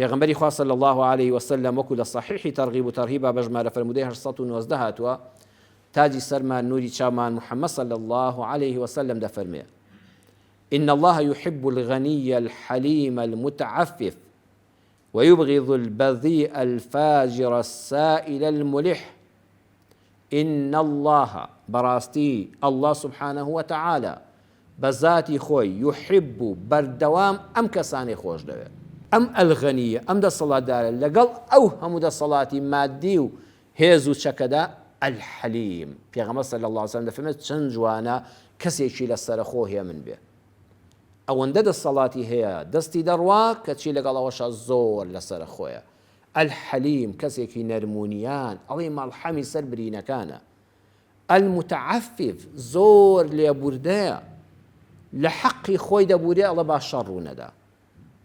پێغەمبەری خوا صلی اللە علیە وسلم وەکو لە صحیحی ترغیب و ترهیبا بە ژمارە فەرموودەی هەشت سەد و نۆزدە هاتووە، تاجی سەرمان نوری چاومان محمد صلی اللە علیە وسلم دەفەرمێ، ان اللە یحب الغنی الحلیم المتعفف ویبغض البذیء الفاجر السائل الملح ان اللە بەڕاستی اللە سبحانه وتعالی بەزاتی خۆی، یحب، بەردەوام ئەم کەسانەی خۆشدەوێ. ئەم ئەلغەنییە، ئەم دەسەڵاتدارە، لەگەڵ ئەو هەموو دەسەڵاتی ماددی و هێز و چەکەدا، الحلیم، پێغەمبەر صلی اللە علیە وسلم دەفەرمێت، چەند جوانە کەسێکی لە سەرەخۆ هێمن بێ. ئەوەندە دەسەڵاتی هەیە، دەستی دەڕوا، کەچی لەگەڵ ئەوەشا زۆر لە سەرەخۆیە. الحلیم، کەسێکی نەرمونیان، ئەڵێی مەڵحەمی سەر برینەکانە. المتعفف زۆر لێبوردەیە لە حەقی خۆی دەبورێ ئەڵێ با شەڕ ڕوونەدا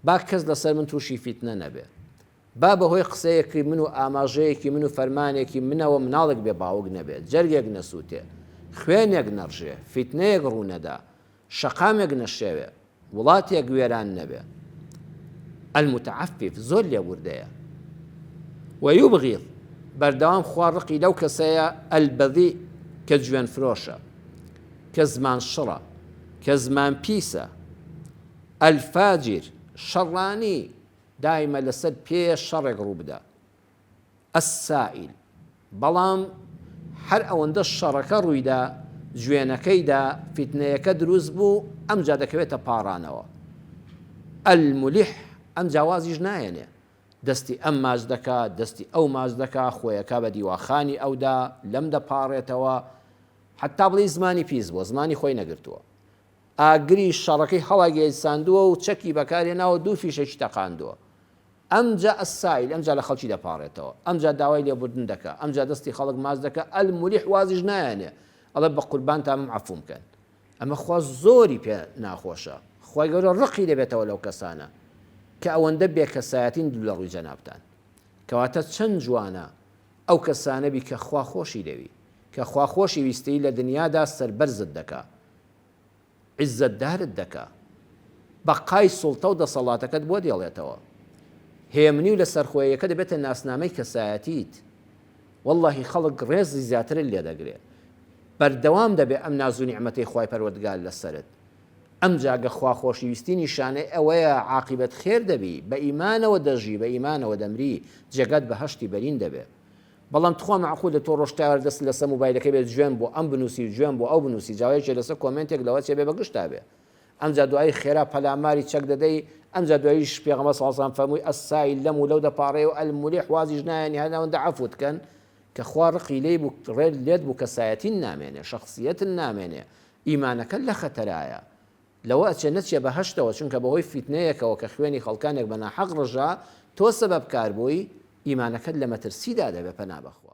با کەس لەسەر من تووشی فیتنە نەبێ با بەهۆی قسەیەکی من و ئاماژەیەکی من و فەرمانێکی منەوە مناڵێک بێ باوک نەبێت جەرگێک نەسووتێ خوێنێک نەڕژێ فیتنەیەک ڕوونەدا شەقامێک نەشێوێ، وڵاتێک وێران نەبێ. المتعفف، زۆر لێبوردەیە. و یبغیض، بەردەوام خوا ڕقی لەو کەسەیە، البذیء، کە جوێن فرۆشە، کە زمان شڕە، کە زمان پیسە. الفاجر، شەڕانی، دایمە لەسەر پێ شەڕێک ڕووبدا. السائیل، بەڵام هەر ئەوەندەش شەڕەکە ڕوویدا جوێنەکەیدا فیتنەیەکە دروست بوو ئەمجا دەکەوێتە پاڕانەوە. الملح، ئەمجا وازیش ناهێنێ دەستی ئەم ماچ دەکا دەستی ئەو ماچ دەکا خۆیەکا بە دیواخانی ئەودا لەم دەپاڕێتەوە حەتا بڵێی زمانی پیس بووە زمانی خۆی نەگرتووە ئاگری شەڕەکەی هەڵاگەیساندووە و چەکی بەکارێناوە دوو فیشەکی تەقاندووە ئەمجا السائل ئەمجا لە خەڵکی دەپاڕێتەوە ئەمجا داوای لێبوردن دەکا ئەمجا دەستی خەڵک ماچ دەکا الملح وازیش نایەنێ ئەڵێ بە قوربانتامم عەفووم کەن ئەمە خوا زۆری پێ ناخۆشە خوای گەورە ڕقی دەبێتەوە لەو کەسانە کە ئەوەندە بێ کەسایەتین دوو لە ڕووی جەنابتان کەواتە چەند جوانە ئەو کەسانە بی کە خوا خۆشی دەوی کە خوا خۆشی ویستیی لە دنیادا سەربەرزت دەکا. عیززەتدارت دەکا بەقای سوڵتە و دەسەڵاتەکەت بۆ دێڵێتەوە هێمنی و لەسەرخۆیەکە دەبێتە ناسنامەی کەسایەتیت وەڵاهی خەڵک ڕێزی زیاترت لێ دەگرێ بەردەوام دەبێ ئەم نازو نیعمەتەی خوای پەروەردگار لەسەرت ئەمجا گە خوا خۆشی ویستی نیشانەی ئەوەیە عاقیبەت خێر دەبی بە ئیمانەوە دەژی بە ئیمانەوە دەمری جێگات بەهەشتی بەرین دەبێ بەڵام تخوا مەعقولە تۆ ڕۆژ تاوێر دەست لەسە موبایلەکە بێت جوێن بۆ ئەم بنوسی و جوێن بۆ ئەو بنوسی جا یەکێ لەسە کۆمێنتێک لەوە چێ بێ بە گشتا بێ ئەمجا دوایی خێرا پەلاماری چەک دەدەی ئەمجا دواییش پێغەمبەر صلی اللە علیە و سلم فەرمووی السائل لەم و لەو دەپاڕێ و الملح وازیش نایەنی هەر ئەوەندە عەفوت کەن کە خوا ڕقی لێی بوو ڕێ لێت بوو کەسایەتین نامێنێ شەخسیەتن نامێنێ ئیمانەکەت لە خەتەرایە لەوە ئەچێ نەچیە بەهەشتەوە چونکە بەهۆی فیتنەیەکەوە کە خوێنی خەڵکانێک بەناحەق ڕژا تۆ سەبەبکار بووی، ئیمانەکەت لە مەترسیدا دەبێ پەنا بەخوا.